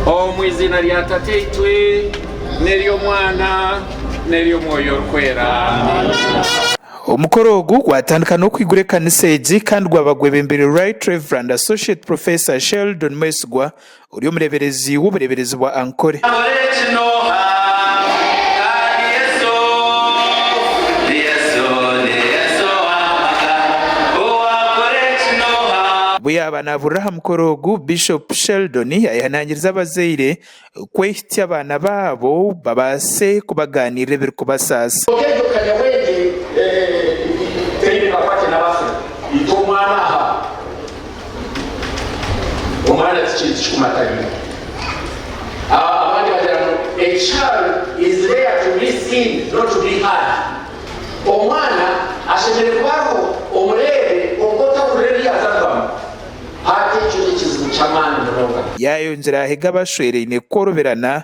Omu iziina rya Tataitwe n'ery'Omwana n'ery'Omwoyo Orikwera. Amina. Omukoro ogu gwatandika n'okwigura ekanisa egi kandi gwaba gwebembeirwe Right Rev Associate Professor Sheldon Mwesigwa ori omureeberezi w'obureeberezi bwa Ankole. Obu yaaba naabuurira aha mukoro ogu, Bishop Sheldon ayehanangiriza abazaire kwehitsya abaana baabo babaase kubagaaniirira ebirikubasaasa. Omwana ti kintu kikumatanira. Abandi bagira ngu a child is there to be seen not to be heard. Omwana ashemereire kuba ariho omureebe kwonka otahurira ebi yaaza kubamu. Hati ekyo n'ekizibu ky'amaani munonga. Yaayongyera ahege abashweraine kukorobirana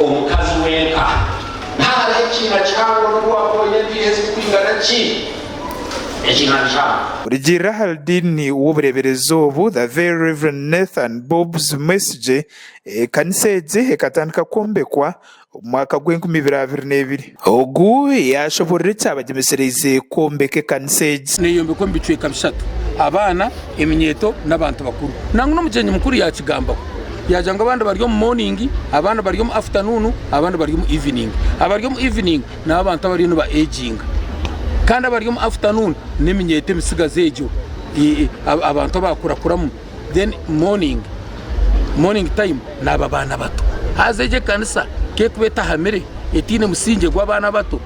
Omukazi wenka naaha ekiina kihango n'obu waakooya empiiha ezirikwingana ki, ekiina nikihango. Rugiirira ahari diini w'obureeberezi obu, The Very Rev. Nathan Bobbs Mwesigye, ekanisa egi ekatandika kwombekwa omu mwaka gw'enkumi ibiri abiri n'ebiri. Ogu yaashoboorora ekyabagyemisereize kwombeka ekanisa egi. Neeyombekwa omu bicweka bishatu, abaana, eminyeeto n'abantu bakuru. Nangwa n'omugyenyi mukuru yaakigambaho. Yaagira ngu abandi bari omu mooningi, abandi bari omu afutanuunu, abandi bari omu iviningi. Abari omu iviningi nibo abantu abariyo nibaeginga. Kandi abari omu afutanuunu n'eminyeeto emitsigazi egyo, abantu abaakurakuramu. then morning morning time naba baana bato haza egyo ekanisa kekuba etahamire etiine musingye gw'abaana bato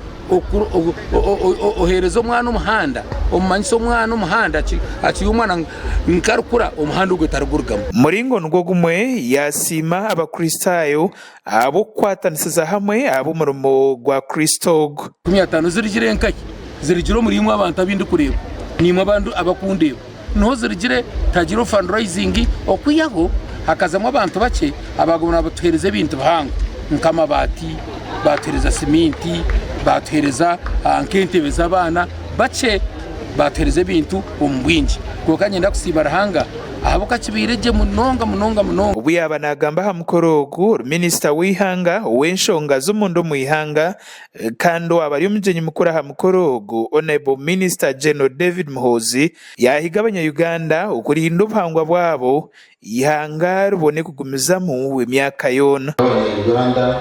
ohereza omwana omuhanda omumanyisa omwana omuhanda akiri omwana nkarikura omuhanda ogwe tarigurugamu. Muringo nigwo gumwe yasiima abakristayo ahabw'okukwatanisiza hamwe ab'omurimo gwa Kristo ogu. Kumi ataano zirigire nkahi? Zirigire omuri imwe abantu abu ndikureeba, naimwe abandi abakundeeba. Niho zirigire tihagire o fundraising okwihaho hakazamu abantu bakye abaguma nabatuhereza ebintu bihango nk'amabaati, batuhereza siminti, batuhereza ah, nk'entebe z'abaana, bakye batuhereza ebintu omu bwingi. Kwonka nyenda kusiima Ruhanga ahabw'okuba kibaire gye munonga munonga munonga. Obu yaaba naagamba aha mukoro ogu, Minisita w'eihanga ow'enshonga z'omunda omu ihanga kandi owaaba ari omugyenyi mukuru aha mukoro ogu, Honourable Minister General David Muhoozi, yaahiga Abanyayuganda okurinda obuhangwa bwabo, eihanga ribone kugumizamu emyaka yoona. Abanyayuganda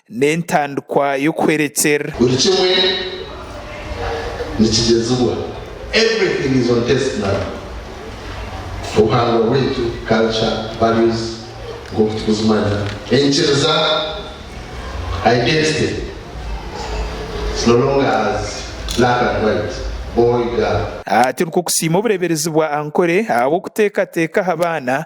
n'entandikwa y'okuhwerekyerera. Buri kimwe nikigyezibwa, everything is on test now, obuhangwa bwaitu, culture, values, nk'oku tukuzimanya, enyikiriza, identity, it's no longer as black and white, boy, girl. Aha turi kukusiima obureeberezi bwa Ankole ahabw'okuteekateeka aha baana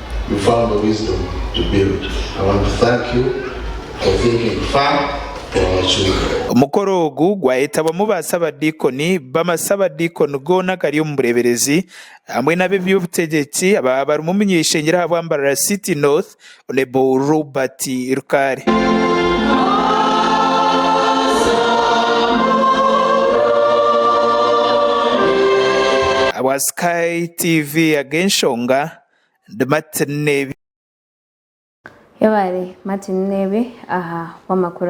you found the wisdom to build I want to thank you for thinking far for our children. Omukoro ogu gwayetabwamu ba Sabadiikoni b'amasabadiikoni goona agari omu bureeberezi hamwe n'ab'eby'obutegyeki ababa barimu omunyaishengyero ahabwa Mbarara City North Hon Robert Rukare. Ahabwa Sky TV Ag'enshonga. de Martin Nebe. Yabare Martin Nebe aha bw'amakuru.